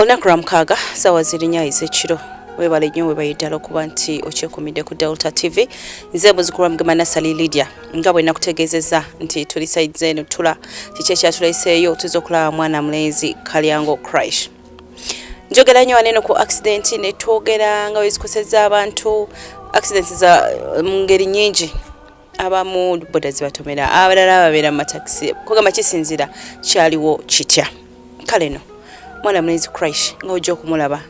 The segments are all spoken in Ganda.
olunaku lwa mukaaga saawa zirinya ez'ekiro webale nnyo webayidala okuba nti okyekumidde ku delta tv nze muzikulwa mugema nasali lydia nga bwe nakutegeezezza nti tuli saidze eno tula kiki ekyatuleseeyo tuza okulaba mwana mulenzi kalyango crash njogera nnyo waneno ku accident ne twogera nga wezikoseza abantu accident za mu ngeri nyingi abamu boda zibatomera abalala babeera mu matakisi kugamba kisinzira kyaliwo kitya kale no mwana mulenzi crash nga ojja okumulaba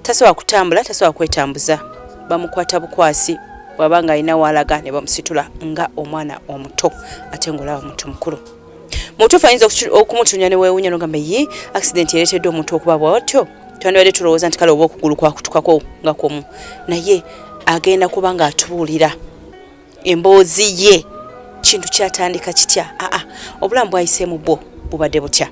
tasobola kutambula tasobola kwetambuza bamukwata bukwasi bwaba nga alina waalaga ne bamusitula nga omwana omuto ate ngaolaba muntu mukulu mutuufu ayinza okumutunya ne weewunya nogamba ye accident ereeteddwa omuntu okuba bwatyo twandibadde tulowooza nti kale oba okugulu kwakutukako nga kwomu naye agenda kuba ng'atubuulira emboozi ye kintu kyatandika kitya aa obulamu bwayiseemu bwo bubadde butya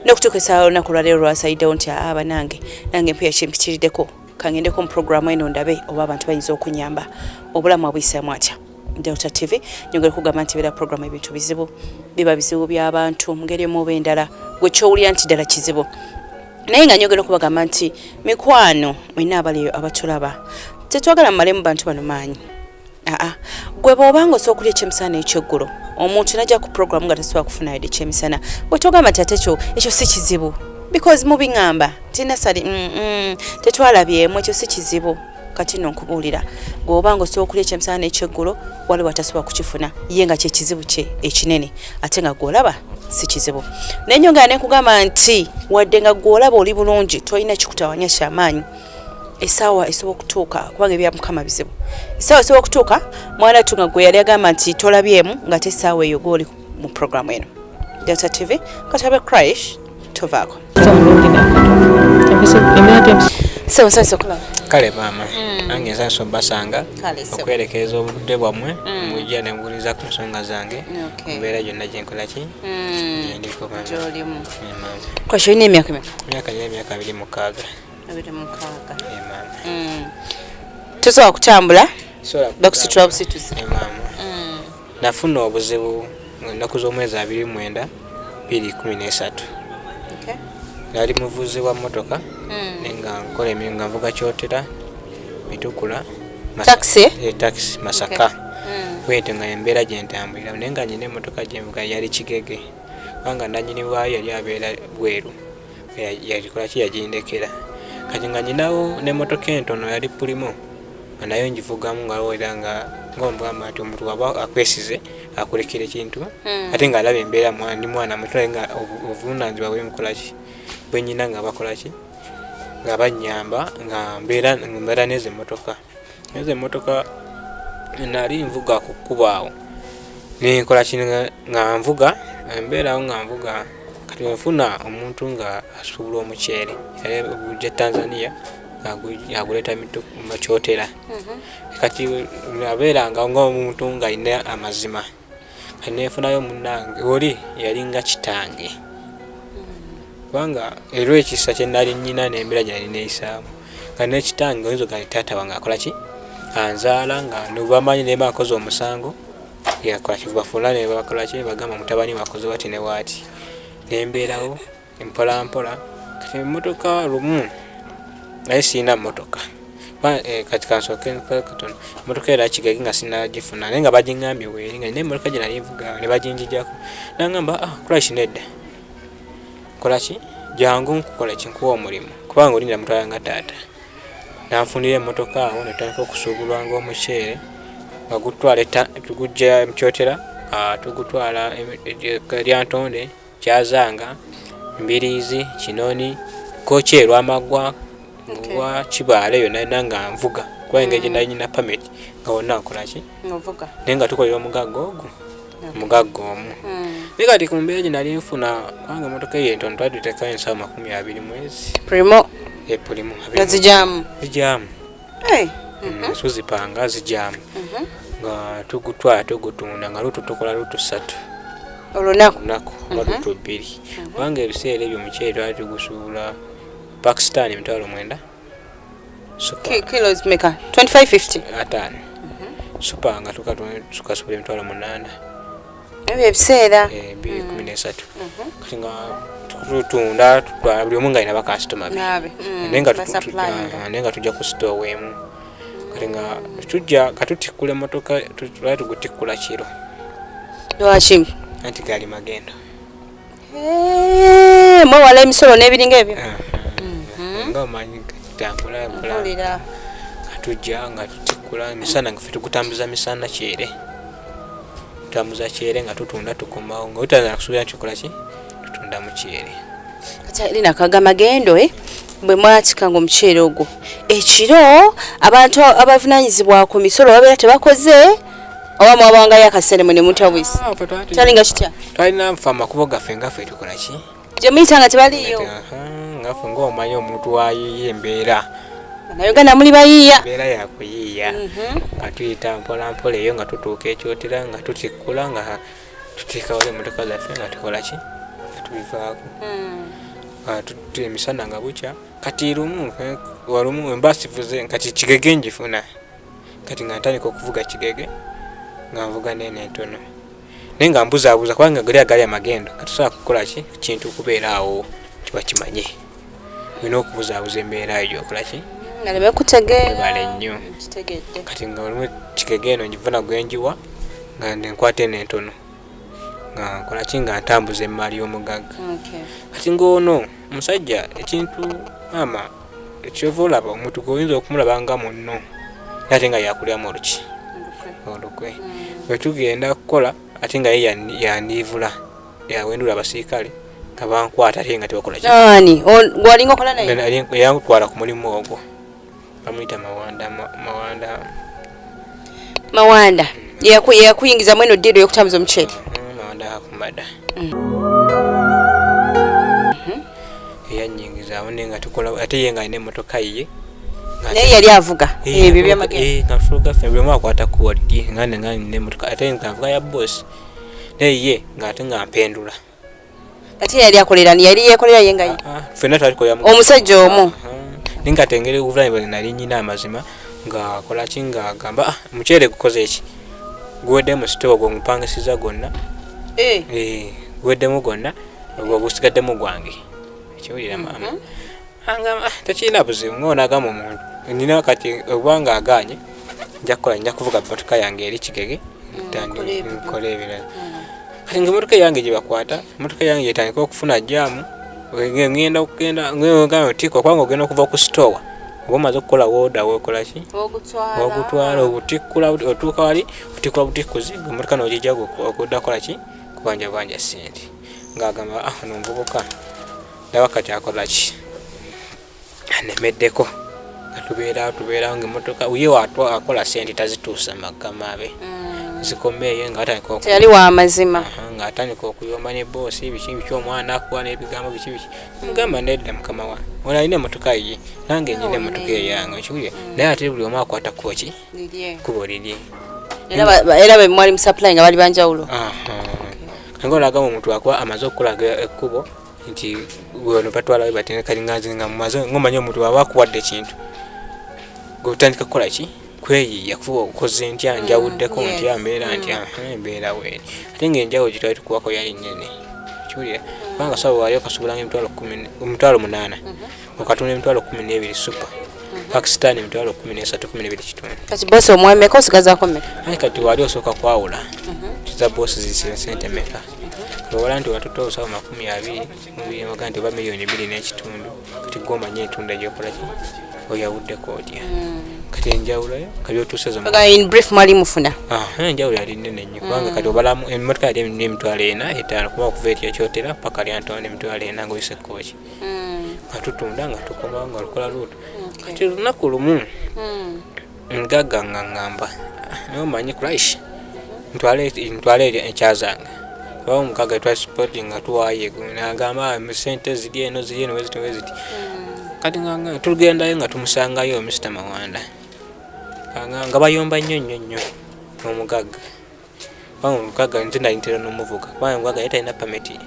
nokutuuka esaala olunaku olwaleero lwasalidewo nti aa banange nange mpuya kimpitiriddeko kangendeko mu programu eno ndabe oba abantu bayinza okunyamba obulamu abuyisaamu atya delta tv nyongere kugamba nti beera programu ebintu bizibu biba bizibu by'abantu mungeri emuoba endala gwe kyowulira nti ddala kizibu naye nga nyongera okubagamba nti mikwano mwena abaliyo abatulaba tetwagala mumalemu bantu bano maanyi aa gwe bwoba nga osobola okulya ekyemisana nekyeggulo omuntu najja ku program nga tasobola kufuna yadde ekyemisana bwe togamba nti ate ekyo ekyo si kizibu because mubiŋamba nti nasali mm, mm, tetwalabyemu ekyo si kizibu kati no nkubuulira gweoba nga osobola okulya ekyemisana nekyeggulo waliwo atasobola kukifuna ye nga kyekizibu kye ekinene ate nga gwolaba si kizibu naye nyongera nekugamba nti wadde nga gwolaba oli bulungi tolina kikutawanya kyamaanyi esaawa esobola okutuuka kubanga ebya mukama bizibu esaawa esobola okutuuka mwana tu nga gwe yali agamba nti tolabyemu nga te esaawa eyo goli mu programu eno delta tv katabe crish tovaako kale maama mm. nange nsasa obasanga okwerekereza obudde bwammwe mm. mujja nebuuliza ku nsonga zange mbeera gyonna gyenkolaki mm. gyendiko maama olina emyaka emyaka nina emyaka abiri mukaaga mm. tosobola kutambula bakusitula busituzi mm. nafuna obuzibu ennaku z'omwezi abiri mwenda biri kumi n'esatu nali muvuzi wa motoka mm. naye nga nkola emirimu nga nvuga kyotera mitukula taxi eh, masaka bwente nga embeera gyentambulira naye nga nyina emotoka gyenvuga yali kigege kubanga nanyini waayo yali abeera bweru yagikolaki yagindekera kati nga nyinawo n'emmotoka entono yali pulimu nga nayo ngivugamu ngawera nga ngaomugamba nti omuntu waba akwesize akulekera ekintu hmm. ate ngaalaba embeera ndi mwana muto naye nga obuvunanyizibwa bwemukolaki bwenyina nga bakolaki nga banyamba nga mbeera nezo emmotoka ezo emotoka nali nvuga ku kkubo awo nenkola kino nga nvuga embeerawo nga nvuga kati wenfuna omuntu nga asuubula omuceere gya tanzania aguleeta mukyotera mhm. kati abeera nga ngaomuntu ngaalina amazima nefunayo munange oli yalinga kitange kubanga era ekisa kyenali nyina nembera gyali neyisaamu nga nekitange oyinza ogaa taata wange akola ki anzaala nga nobamanyi nema akoze omusango yakolakibafuna nebakolaki nebagamba mutabani wakoze wati newati nembeerawo mpolampola kati emotoka lumu naye sirina motoka eh, kati kansooke katono emotoka era kigagi nga sinagifuna naye nga bagingambye weeri nga nina emotoka gye nayevuga ne baginjijako nangamba ah, kolaki nedda kolaki jangu nkukola kinkuwa omulimu kubanga olinda mutwala nga taata nanfunira emotoka awo netandika okusuubulwa ngaomuceere nga gutwala tugujja mukyotera ah, tugutwala eh, eh, lyantonde Kyazanga, Mbiriizi, Kinoni, Kkooki e Lwamaggwa, Lwa Kibaale yonna yonna nga nvuga kuba engeri gye nali nyina pameti nga wonna nkola ki naye nga tukolera omugagga ogwo omugagga omu hmm. naye kati ku mbeera gye nali nfuna kubanga emotoka eyo entono twali tutekayo ensawo makumi abiri mwezi primo e primo zijamu zijamu hey. mm -hmm. tuzipanga zijamu mm -hmm. nga tugutwala tugutunda nga lutu tukola lutu satu olunaku lunaku oba mhm. lutu bbiri mhm. kubanga ebiseera ebyo mukyere twali tugusuula pakistan emitwalo mwenda super nga tukasuula emitwalo munaana ebyo ebiseera eh, bibiri mm. kumi n'esatu mm-hmm. kati nga tutunda buli omu nga alina bakasitoma be mm, naye nga tujja ku sitoowa weemu kati nga tujja katutikkula emotoka tuba tugutikkula kiro lwaki anti gaali magendo Eh, mwewala emisolo n'ebiringa ebyo eh, eh, nga omanyi tambulakulawulira nga tujja nga tutikula emisana nga fe tukutambuza misana kyere tutambuza kyere nga tutunda tukomawo nga otazana kusuubira nti okola ki tutunda mu kyere lina kaga magendo e bwe mwatika nga omuceere ogwo ekiro abantu abavunanyizibwa ku misolo babeera tebakoze oba mwabangayo akaseera mwe ne mutabwisi kyalinga kitya twalina nfa amakubo gaffe nga ffe tukola ki gye muyita nga tebaliyo nga ffe ngaomanyi omuntu wayiye embeera nauganda muli bayiiya embeera yakuyiiya mhm. nga tuyita mpolampola eyo nga tutuuka ekyotera nga tutikkula nga tuteekawo emotoka zaffe nga tukola ki nga tubivaako hmm. emisana nga bukya kati lumu walumu embasivuze kati kigege njifuna kati nga ntandika okuvuga kigege nga nvuga neeno entono naye nga mbuzabuza kubanga gali agali amagendo katusobola kukola ki kintu kubeera awo tibakimanye olina okubuzabuza embeera eyo gyokola ki nga nebekutegeebale nnyo kati nga olimu kigege eno ngivuna gwenjiwa nga nenkwata eno entono nga nkola ki nga ntambuza emmaali y'omugagga kati ng'ono omusajja ekintu maama ekyova olaba omuntu gweoyinza okumulaba nga munno ate nga yakulyamu oluki olukwe mm. wetugenda kukola ate nga ye yandiivula yawendula abasirikale nga bankwata ate nga tebakola ki walinga okola naye yantwala ku mulimu ogwo bamuyita mawanda mawanda mawanda yeyakuyingiza mweno ddiiro yokutambuza omuceere mm, mawanda akumada mm. mm-hmm. eyanyingizaawo naye nga tukola ate ye nga alina emotoka ye naye yali avuga eh, ebyo byamageenafuga fe buli omu akwata kuwaliri nga nenga nina emotoka ate nga nvuga ya bosi naye ye nga ate nga mpendula kati yali akolera ni yali yekolera ye nga ye ah, fena tali ko yamu omusajja omu ninga tengere uvula ibali nali nyina amazima nga kola kinga gamba ah, muchere kukoze eki gwede mu store go mpanga siza gonna eh eh gwede mu gonna obusigadde mu gwange ekiwulira mama mm -hmm. angamba ah, tekirina buzibu nga onagamba omuntu nina kati obwanga aganye nja kukola nja kuvuga motoka yange eri kigege mm, nkole ebirala mm. kati nga emotoka yange gyebakwata emotoka yange yetandika okufuna jamu ngenda okugenda ngamba otiika okubanga ogenda okuva ku sitowa oba omaze okukola woda wekolaki ogutwala obutikkula otuuka wali otikkula butikkuzi emotoka nogijja okudda kolaki kubanja banja sente ng'agamba ah, ono omuvubuka ndaba kati akola ki anemeddeko atubeera tubeerawo ngaemotoka uye akola sente tazituusa magama be mm. zikomeeyo ngaatandikayali wamazima ngaatandika okuyomba ne boosi biki biki omwana akuwa n'ebigambo biki biki mugamba nedda mukama wa ona alina emotoka ye nange nyina emotoka eyange okiwulire mm. naye ate buli omu akwata kukoki kubo lirye era bemwali musupply nga bali banjawulo nga olaga omuntu akuba amaze okukulaga ekkubo nti wano batwala we batene kali nganze nga mumaze ngomanya omuntu waba akuwadde ekintu gwe otandika kukola ki kweyiiya kufuba okukoze ntya mm, njawuddeko ntya mbeera mm. ntya embeera weeri ate nga enjawo gye twali tukuwako yali nene kiwulira kubanga saba waali okasubulanga emitwalo omutwalo munaana mm-hmm. okatunda emitwalo kumi n'ebiri supa mm-hmm. pakistan emitwalo kumi n'esatu kumi n'ebiri kitundu kati bosi omwemeka osigazako meka kati waali osooka kwawula mm-hmm. za bosi zisira sente meka ewala nti watutte obusawo makumi abiri mubiyoga nti oba miliyoni biri n'ekitundu kati gwe omanyi entunda gyokola ki oyawuddeko otya hmm. kati enjawulo kati otuusezaenjawulo yali nene nnyo kubanga hmm. kati obalamu emotoka yali emitwalo ena etaano kuba okuva etya kyotera paka lyantonda emitwalo ena ngaoyise kooki hmm. nga tutunda nga tukomawo nga lukola luuto kati olunaku lumu Ngaga nga ngamba naye omanyi Christ ntwala ntwala ekyazange oba omukaga twa support nga tuwaye nagamba ah, sente ziri eno ziri eno weziti weziti hmm. kati nga tugendayo nga tumusangayo Mr Mawanda nga bayomba nnyo nnyo nnyo omugagga kubanga omukaga nze nali ntera n'omuvuga kubanga omukaga yali talina pameti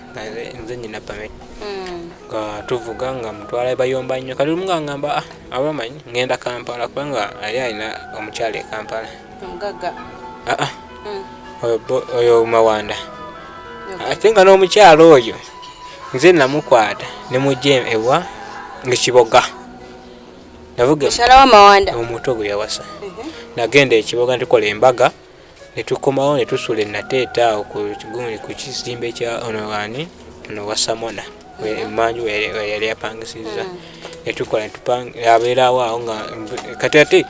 nze nyina pameti hmm. nga tuvuga nga mutwala bayomba nnyo kati lumu ngangamba ah, abamanyi ngenda kampala kubanga ali alina omukyala e kampala omugaga ah, ah. Hmm. oyo mawanda ate nga n'omukyala oyo nze namukwata nemujja ewa ngekiboga navuga omuto gwe yawasa mhm. nagenda ekiboga ntukola embaga ne tukomawo ne tusula enateeta awo ku kigundi ku kizimbe kya ono wani ono wasamona emanju yali apangisizza hmm. ne tukola abeerawo awo nga kati ate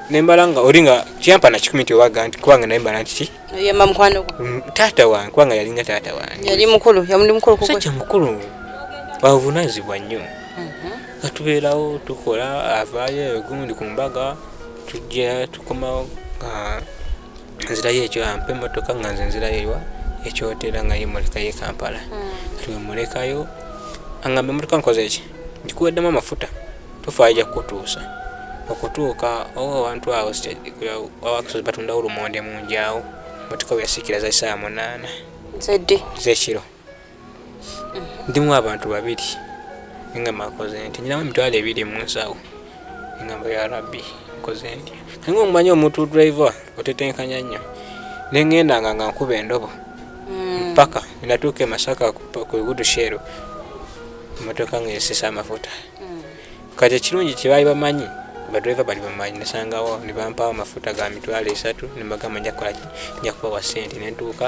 nembala nga oli nga kyampa na kikumi nti owaga nti kubanga naye mbala nti yemba mukwano gwo mm, taata wange kubanga yalinga taata wange yali mukulu yamuli mukulu kuko sajja mukulu wavunazibwa nnyo mhm. atubeerawo tukola avaayo egundi ku mbaga tujja tukomawo nga nzirayo ekyo ampa emmotoka nga nze nzirayo ewa ekyotera nga yemulekayo ekampala hmm. twemulekayo angamba emmotoka nkoze eki ndikuweddemu amafuta tufaayo ja kukutuusa okutuuka owo awantu awo awakusozi batundawo lumonde munjawo motoka weyasikira za saa munaana zekiro ndimu abantu babiri nga makoze nti nyinamu emitwalo ebiri mu nsawo engamba ya rabbi nkoze ntya kanga omumanyi omuntu driver otetenkanya nnyo nengendanga nga nkuba endobo mm. mpaka natuuka emasaka ku igudu sheero emotoka nga esisa amafuta mm. kati ekirungi kyebaali bamanyi badriver bali bamanyi nasangawo nebampawo amafuta ga mitwalo esatu nemagamba njakukola njakubawa sente nentuuka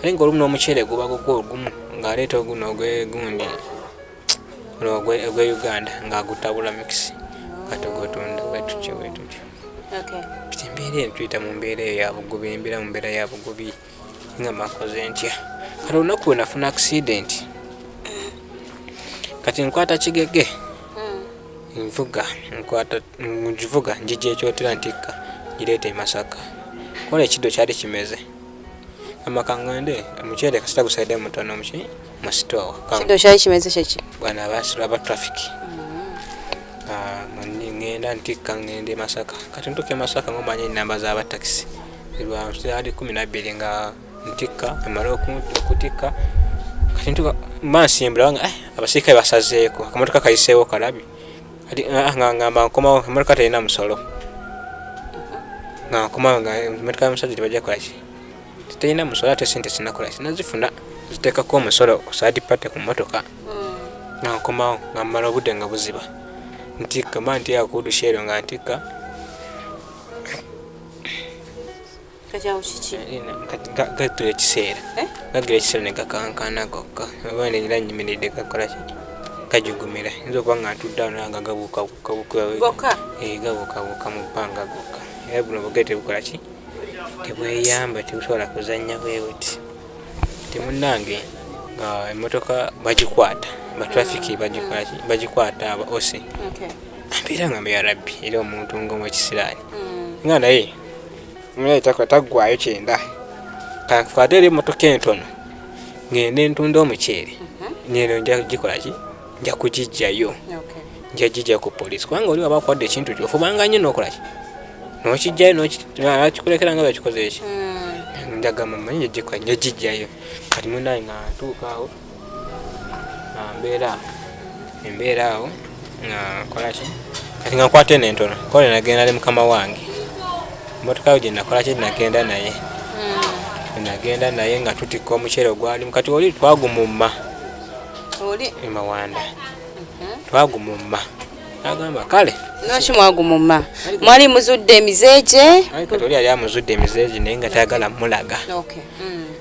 naye nga olumu n'omuceere guba gugwa ogumu ng'aleeta oguno ogwegundi ono ogwe uganda ng'agutabula mikisi kati ogutunda bwetutyo bwetutyo kati embeera eno tuyita mu mbeera eyo yabugubi embeera mu mbeera yabugubi nga makoze ntya kati olunaku we nafuna accident kati nkwata kigege hmm. nvuga nkwata ngivuga njija ekyotera ntikka ngireeta emasaka kola ekiddo kyali kimeze amakangande omuceere kasita gusaidde mutono muki mu store kido kyayi kimeze kyeki bwana abasula aba traffic mm-hmm. ah, mani ngenda ntikka ngende masaka kati ntuke masaka ngomanya enamba zaba taxi lwa ali kumi nabbiri nga ntikka emala okutikka kati ntuka mansimbula wanga eh, abasirikale basazeeko akamotoka kayiseewo kalabi kati ah, nga ngamba nkomawo emotoka terina musolo nga nkomawo nga emotoka y'omusajja tebajja kolaki terina musolo ate sente sinakola sinazifuna ziteekako omusolo osaadi pate ku motoka mm. nga nkomawo nga mmala obudde nga buziba ntikka mba ntiakuudusheero nga ntikka kakyawo kiki eh, gatula ekiseera eh? gagira ekiseera ne gakankana gokka oba neera nyimiridde gakola ki gajugumira yinza okuba nga ntudde ano nga gabukabukabukabuka eh, gabukabuka mu bbanga gokka era buno bugee tebukola ki tebweyamba tebusobola kuzannya bwebuti temunange nga emotoka bagikwata batrafiki bagikwata aba osi mbeera nga mbeya rabbi era omuntu ngaomwekisiraani mm. nga naye naye taggwayo kyenda kankwate eri emmotoka entono ngende ntunda omuceere mhm. ngeno nja kugikola ki nja kugijjayo nja gijja ku poliisi kubanga oli waba akuwadde ekintu kyo ofubanga nnyo nokola ki nokijjayo nokikulekera nga bakikoze eki hmm. njagamba manyi njagijjayo kati munaye nga ntuukaawo mbeera embeera awo nga nkolaki kati nga nkwata eno entono kole nagenda ne mukama wange emotoka yo gyenakolaki nagenda naye hmm. nagenda naye nga tutikka omuceere ogwalimu kati oli twagumumma emawanda mhm. twagumumma agamba kale noki mwagumumma mwali muzudde emizeegye kati oli yali amuzudde emizeegye naye nga tayagala mulaga hmm.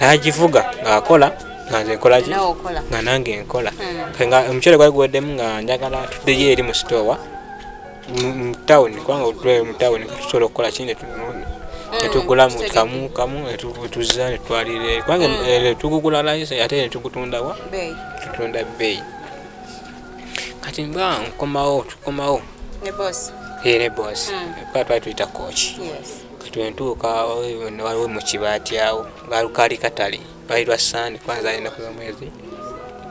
nagivuga ng'akola nga nze nkolaki nga nange nkola hmm. nga omucere gwali guweddemu nga njagala tuddeyo eri mu sitoowa mu tawuni kubanga otulayo mu tawuni tusobola okukola kini netugula hmm, kamu kamu netuzza netwalire kubanga hmm. eh, netugugula layisi ate netugutundawa tutunda bbeeyi kati mba nkomawo tukomawo ne bosi eh, ka twali tuyita kooki kati wentuuka waliwo mukibaati awo kaali katale lwali lwa sande kwanza ali enaku zomwezi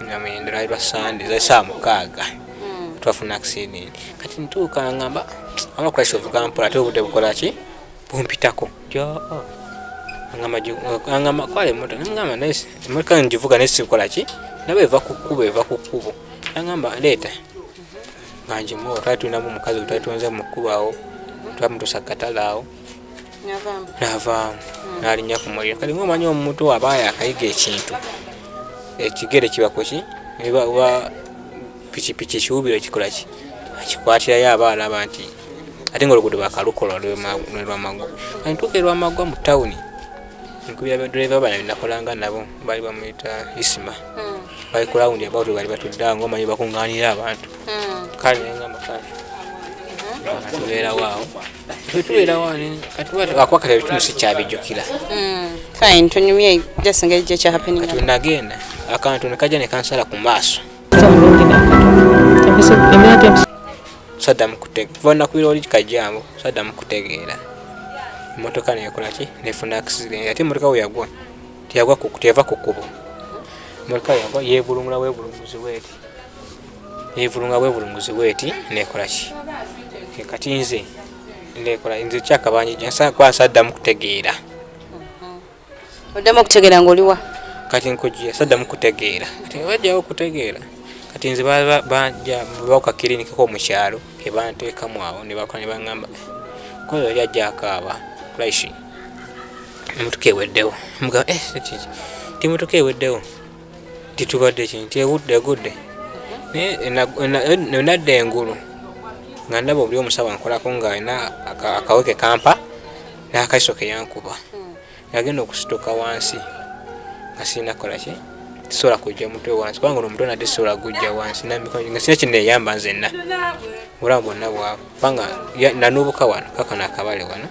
namwenda lwali lwa sande zasaa mukaaga hmm. twafuna accident kati ntuuka ngamba ama kulaisa ovuga mpola ate obudde bukolaki bumpitako oh. angamba kwala emota namugamba naye emotoka ngivuga naye sikolaki naba eva ku kkubo eva ku kkubo angamba leeta nga njimu otwali tulinamu omukazi otwali tuwonza mu kkubo awo twamutusa katale awo navaamu hmm. nalinya ku muliro kati ngaomanyi omuntu aba yakayiga ekintu ekigere kiba kuki oba pikipiki ekiwubiro kikola ki akikwatirayo aba alaba nti ate nga oluguudo bakalukola lwamagu antuuka erwamagwa mu tawuni nkubira badriver bana binakolanga nabo bali bamuyita isima hmm. bali ku rawundi abawtu bali batudde nga omanyi bakuŋŋaanira abantu hmm. kale nengamba kale hmm. tubeerawo awo tetubeerawo ani kati akubakata ebitundu sikyabijjukira fine tunyumye just engeri gyekyahappening kati nagenda akantu nekajja nekansala ku maaso saddamu kutegeera kuva lunaku bira oli kajjangu saddamu kutegeera emmotoka nekola ki nefuna accident ate emmotoka we yagwa teyagwa teyava ku kkubo emmotoka yagwa yeevulungula bwevulunguzi bweti yeevulunga bwevulunguzi bweti nekola ki kati nze nekola nze kyakabanjija nsakwasa addamu kutegeera Oddamu okutegeera ng'oliwa? Kati nkujja saddamu kutegeera kati nga bajjawo okutegeera kati nze bajja bawuka kiriniki ko mu kyalo ke banteekamu awo ne bakola ne baŋŋamba kola oli ajja akaaba kulaishi emotoka eweddewo mugamba eh kiki ti emotoka eweddewo nti tubadde ki nti ewudde egudde naye nadda engulu nga ndaba obuli omusawo ankolako ng'alina akaweke kampa n'akaiso ke yankuba nagenda okusituka wansi nga sirina kukola ki sisobola kujja mutwe wansi kubanga ono omutwe nate sisobola gujja wansi namikono nga sina kineyamba nzenna obulamu bwonna bwavu kubanga nanubuka wano kaka nakabale wano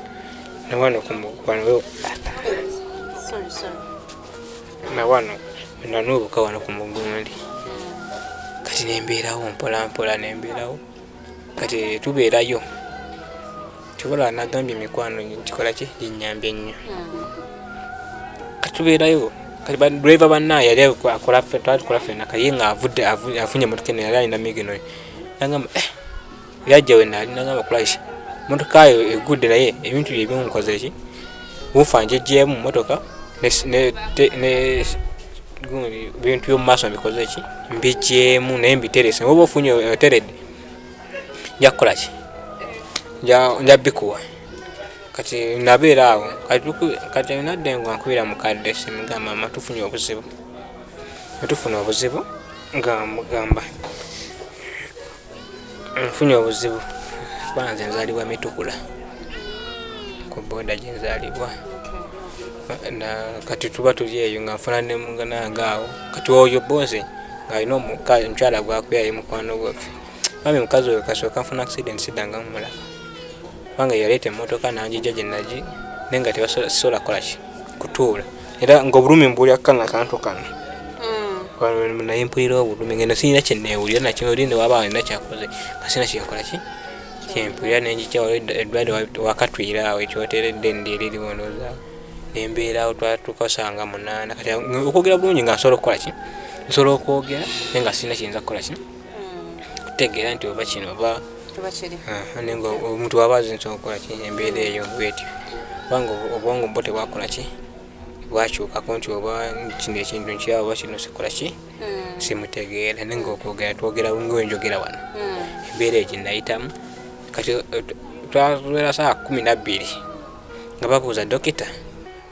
nawano kumukwano nawano nanubuka wano ku mugundi kati nembeerawo mpolampola nembeerawo kati tubeerayo kyobola nagambye emikwano nkikola ki ginyambye nnyo kati tubeerayo kati driver banna yali akola twatukola fena kaye nga avudde afunye motoka eno yali alina migino nagamba eh, yajja wenali nagamba kulaki motoka yo egudde naye ebintu bye bimunkoze ki wuufa njejjeemu mmotoka bintu byomu maaso mbikoze ki mbijjeemu naye mbiterese oba ofunye oteredde nja kukola ki nja bikuwa kati nabeera awo kati nadde nga nkubira mukadde simugamba ma tufunye obuzibu netufuna obuzibu nga mugamba nfunye obuzibu kuba nze nzalibwa mitukula ku boda gyenzalibwa kati tuba tuli eyo nga nfuna nemugananga awo kati oyo boze ngaalina omukyala gwakuyaye mukwano gwaffe mami mukazi oyo kasooka nfuna accident sidanga mumula kubanga yaleeta emotoka nanjija gyenagi naye nga tebasobola kukolaki kutuula era nga obulumi mbuli akana kantu kano hmm. naye mpulira obulumi ngeno sirina kyenewulira nakyoli newaba alina kyakoze nga sirina kyenkola ki kyempulira nenjikyawo eddwade wakatwira awo ekyoteredde ndyeririwonoza nembeerawo tukasanga munaana kati okwogera bulungi nga nsobola okukola ki nsobola okwogera naye nga sirina kiyinza kukola ki kutegeera nti oba kino oba nenga omuntu waba azinza okukola ki embeera eyo bwetyo kubanga obwongo bwo tebwakola ki bwakyukako nti oba kino ekintu nkyawo oba kino sikola ki hmm. simutegeera nenga okwogera twogera ngaenjogera wano hmm. embeera egyo nayitamu kati twawera saa kumi nabbiri nga babuuza dokita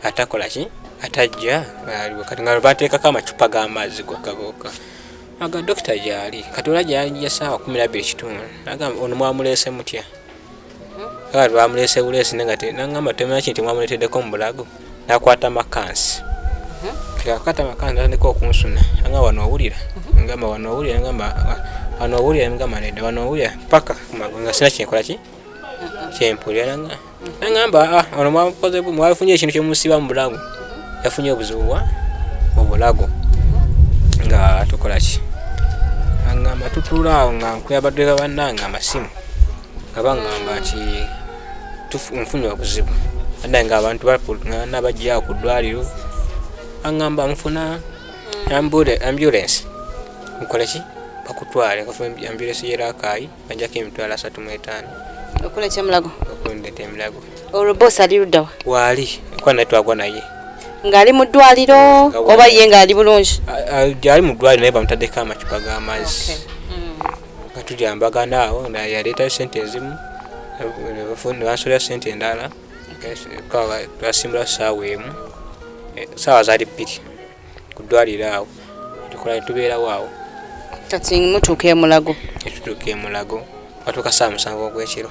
atakola ki atajja kati nga bateekako amacupa g'amazzi gokka gokka aga dokita gyali katola gyali yasaawa kumi nabbiri kitundu nagamba ono mwamuleese mutya aga lwamuleese buleesi nengate nangamba temanya kinti mwamuleeteddeko mu bulago nakwata makansi akwata makansi natandika okunsuna anga wano owulira ngamba wano owulira ngamba wano owulira ngamba nedda wano owulira paka nga sina kyenkola ki kyempulira nanga nangamba ah, ono mwakoze mwafunye ekintu kyemusiba mu bulago yafunye obuzibu bwa mu bulago nga tukolaki angamba tutula awo nga nkuyabadweka bannange amasimu nga bangamba nti nfunye obuzibu adda nga abantu bakugana bajja ku ddwaliro angamba nfuna ambulance nkoleki bakutwale ambulance yerakaayi ajjako emitwalo asatu mu etaano okula kyemulago okundeta emulago olwo boosi ali luddawa waali kuba naye twagwa naye ng'ali mu ddwaliro oba ye ng'ali bulungi gyali mu ddwaliro naye bamutaddeko amacupa g'amazzi mm. nga tujambagana awo yaleetayo sente ezimu nebansolera sente endala twasimbula saawa emu eh, saawa zaali bbiri ku ddwaliro awo tukola ne tubeerawo awo kati mutuuka emulago etutuuka emulago batuuka saa musanvu ogwekiro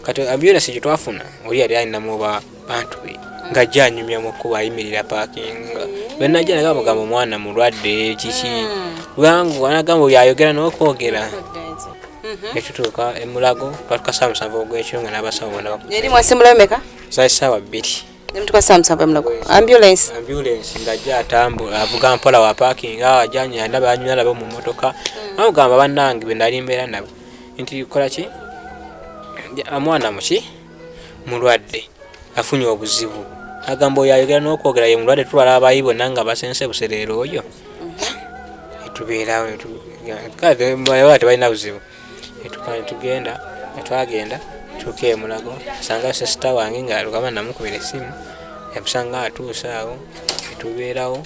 kati ambulance gye twafuna oli yali alinamu oba bantu be nga janyumya mu kkubo ayimirira paakinga bwenajja naga mugamba omwana mulwadde kiki hmm. bwangu anagamba oyo ayogera n'okwogera mhm. etutuuka emulago batuka saa musanvu ogwekiro nga n'abasawo bona eri mwasimulayo meka zali saawa bbiri Nemtukasa msamba mlaku. Ambulance. Ambulance ndaje atambu avuga mpola wa parking awa janya ndaba anywa labo mu motoka. Mm. Awo gamba banange be nali mbera nabo. Nti kola ki? Amwana muki? Mulwadde. Afunye obuzibu. Agambo yayogera n'okwogera ye mulwadde tulwala abayi bonna nga basense busereero oyo. Mm-hmm. Etubeerawo etu. Kati mwayo tebalina buzibu. etuka netugenda netwagenda tuuka emulago asanga sesita wange nga lukaba namukubira esimu yamusanga atuuse awo etubeerawo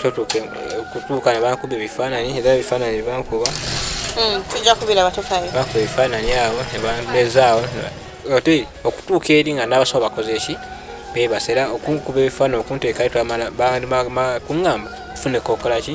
totuuka okutuuka nebakuba ebifaananyi era ebifaananyi bankuba hmm, tujja kubira batukayo bakuba ebifaananyi awo nebambezaawo ate okutuuka eri nga nabasawo bakoze ki bebasera okunkuba ebifaananyi okunteekayo twamala kuŋamba fune kokolaki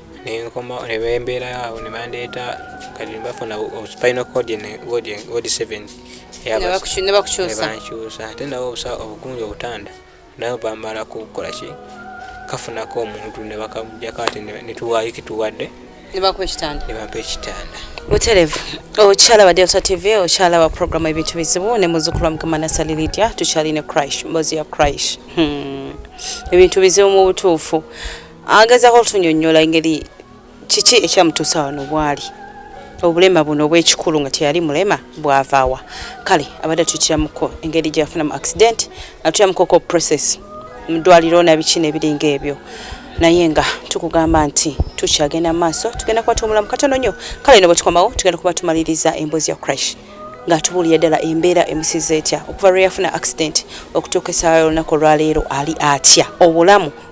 nenkoma nebembeerayo awo nebandeeta kati bafuna spinal cord ward seven nebakukyusa ate nawe obusa obugunja obutanda nawe bamala kukola ki kafunako omuntu nebakamujjako ate netuwaayo kituwadde nebampa ekitanda nebampa ekitanda buterevu okyala wa delta tv okyala wa programu ebintu bizibu ne muzukulu wa mukama nasali lidya tukyali ne crash mbozi ya crash hmm. ebintu bizibu mu butuufu agezako otunyonyola engeri kiki ekyamutuusa wano bwali obulema buno obwekikulu nga teyali mulema bwavaawa kale abadde atutiramuko engeri gyeyafunamu accident atutiramuko ko process mudwaliro nabiki nebiringa ebyo naye nga tukugamba nti tukyagenda maaso tugenda kuba tuwumulamu katono nnyo kale no bwetukomawo tugenda kuba tumaliriza emboozi ya crash ng'atubuulira ddala embeera emusiza etya okuva lwe yafuna accident okutuuka essaawa y'olunaku olwaleero ali atya obulamu